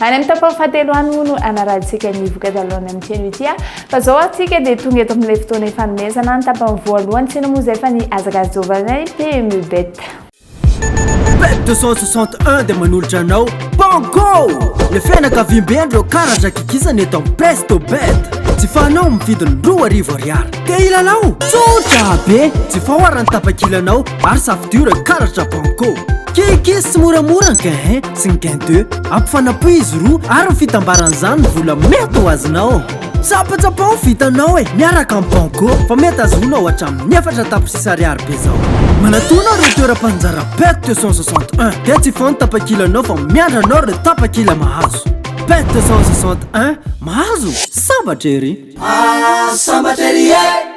Any amin'ny tapany fahatelo any moa no hanarahantsika ny voka-dalonan'ny amin'ity anio ity. Fa izao antsika dia tonga eto amin'ilay fotoana ifanomezana ny tapany voalohany. Tsinona moa izay fa ny hazakazaka jovanay PMU Bet. Bet 261 dia manolotra anao Banco! Ilay fianakaviamben'ireo karatra gigizana eto amin'ny Presto Bet. Jifanao amin'ny vidiny roa arivo ariary. Te hilalao? Tsotra be! Jifao ary ny tapakilanao. Maro safidio reo karatra banco Keke sy moramora ny gain un sy ny gain deux Ampifanapohy izy roa ary ny fitambaran'izany ny vola mety ho azonao Tsapatsapao ny vitanao e miaraka amin'ny banco Fa mety azonao hatramin'ny efatra tapitrisa ariary be zao Manatona reo toeram-panjara pet deux cent soixante un Dia tsy hifoha ny tapakilanao fa miandry anao reo tapakila mahazo Pet deux cent soixante un mahazo sambatra ery Ah sambatra ery eh!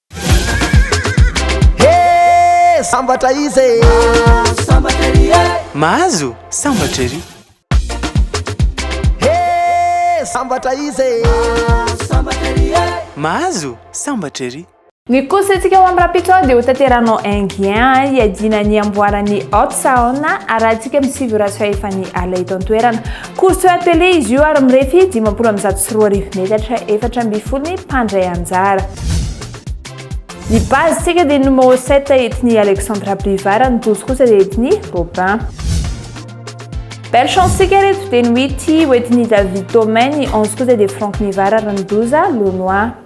Hee sambatra izy e. Mahazo sambatra ery e. Mahazo sambatra ery. Hee sambatra izy e. Mahazo sambatra ery e. Mahazo sambatra ery. Ny course-ntsika ho amin'ny rapitron dia hotanteranao Enghien hiadiana ny amboaran'ny Hot Saona, arahantsika amin'ny sivy ora sy fahefan'ny alina eto an-toerana. Course à télé izy io ary mirefy dimampolo amby zato sy roa arivo metatra efatra ambin'ny folo ny mpandray anjara. Ny base tsika dia numéro 7 etni Alexandra Privara, ny douze kosa dia etni Robin. Belle chance tsika reto dia ny huit ho etni David Thomain, ny onze kosa dia Franck Nivara ary ny douze Lonois.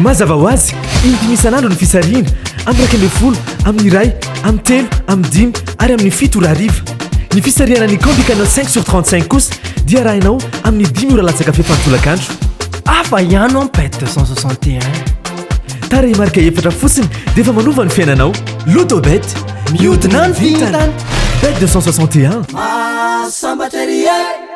Mazava ho azy, indimy isan'andro ny fisarihina, amin'ny iraika ambin'ny folo, amin'ny iray, amin'ny telo, amin'ny dimy ary amin'ny fito ora hariva. Ny fisarihana ny Candy Canal 5 sur 35 kosa dia arahinao amin'ny dimy ora latsaka fepany tolakandro. Hafa ihany ao Pet 261. Tarehimarika efatra fotsiny dia efa manova ny fiainanao. Lotobet, mihodina ny vintana. Bet 261. Mahasambatra ery e!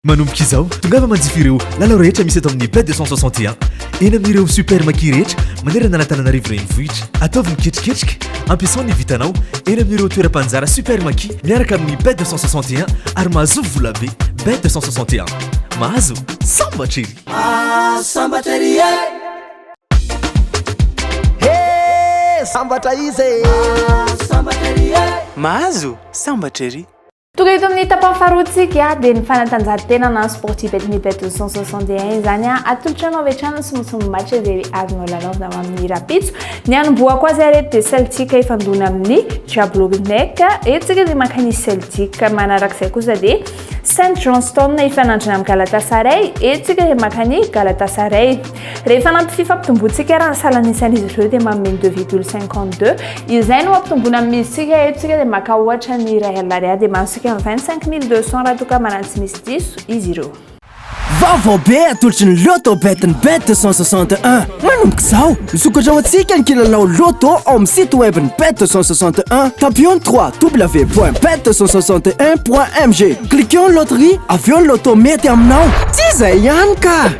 Manomboka izao, tongava manjifa ireo lalao rehetra misy eto amin'ny Bled 261, eny amin'ireo Super Maki rehetra manerana an'Antananarivo renivohitra. Ataovy miketriketrika, ampiasao ny vintanao eny amin'ireo toeram-panjara Super Maki miaraka amin'ny Bled 261 ary mahazoa vola be. Bled 261, mahazo sambatra ery! Mahazo sambatra ery e! He! Sambatra izy e! Mahazo sambatra ery e! Mahazo sambatra ery! Tonga eto amin'ny tapany faharoantsika dia ny fanatanjahantena na sportif eto ny Beto 161 izany a atolotra anao avy hatrany ny somosomo match izay azonao lalaovina ho amin'ny rapitso ny hanombohako azy ary eto dia Celtic ifandona amin'ny Jablonec eto tsika dia maka ny Celtic manarak'izay kosa dia Saint Johnston ifanandrina amin'ny Galatasaray eto tsika dia maka ny Galatasaray Rehefa nampitia fampitomboantsika ary ny salanisan'izy ireo dia manome ny deux virgule cinquante deux. Izay no ampitomboana amin'ny milintsika eto isika dia maka ohatra ny iray alina ariary dia mahazotsika ny vingt cinq mille deux cents raha toa ka manana tsy misy diso izy ireo. Vaovao be atolotry ny Lotto Bet ny Bet deux cent soixante et un. Manomboka izao, misokatra ho antsika ny kilalao Lotto ao amin'ny site web ny Bet deux cent soixante et un. Tapio ny ww point bet deux cent soixante et un point mg. Cliqueo ny loterie, avy eo ny Lotto mety aminao. Tsy izay ihany ka!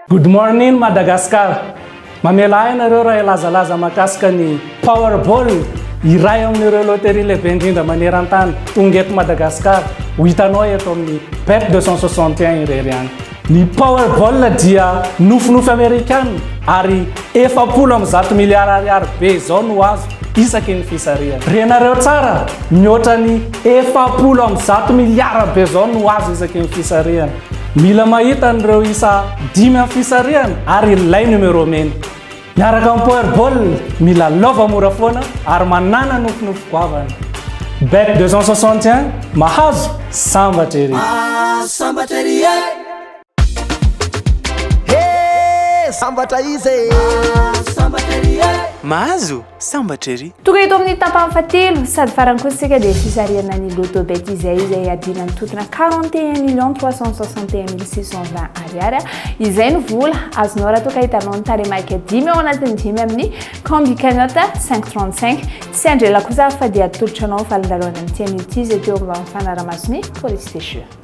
Good morning Madagascar! Mamela ahy nareo raha hilazalaza mahakasika ny Powerball, iray amin'ireo loterie lehibe indrindra maneran-tany, tonga eto Madagasikara, ho hitanao eto amin'ny Bet 261 irery any. Ny Powerball dia nofinofy Amerikana ary efapolo amby zato miliara ariary be izao no azo isaky ny fisarihana. Renareo tsara, mihoatra ny efapolo amby zato miliara be izao no azo isaky ny fisarihana. Mila mahita an'ireo isa dimy amin'ny fisarihana ary ilay numéro mena. Miaraka amin'ny Powerball, mila lova mora foana ary manàna nofinofy goavana. Bet 261, mahazo, sambatra ery! Mahazo sambatra ery e! He! Sambatra iza e! Mahazo sambatra ery e! Mahazo? Sambatra ery! Tonga eto amin'ny tapany fahatelo sady farany kosa isika dia fisarihana ny Lotto Bet izay izay adiana ny totona 41 millions 361 mille 620 ariary. Izay no vola azonao raha toa ka hitanao ny taremaika dimy ao anatin'ny dimy amin'ny Combi Cagnotte 535. Tsy andrela kosa aho fa dia atolotro anao ny valindalohany amin'ity anio ity izay teo amin'ny fanaramason'ny Police des Jeux.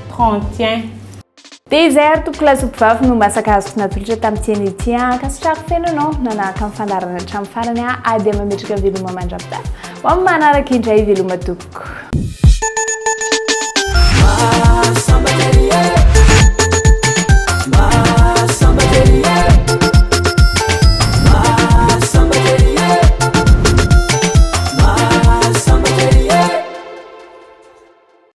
prends tiens. Désert, tompoko lasopy vavy no masaka azoko natolotra tamin'ity anio ity an. Ankasitrako feno anao nanahaka ny fandaharana hatramin'ny farany an. Ady amametraka ny veloma mandravita. Ho amin'ny manaraka indray veloma tompoko.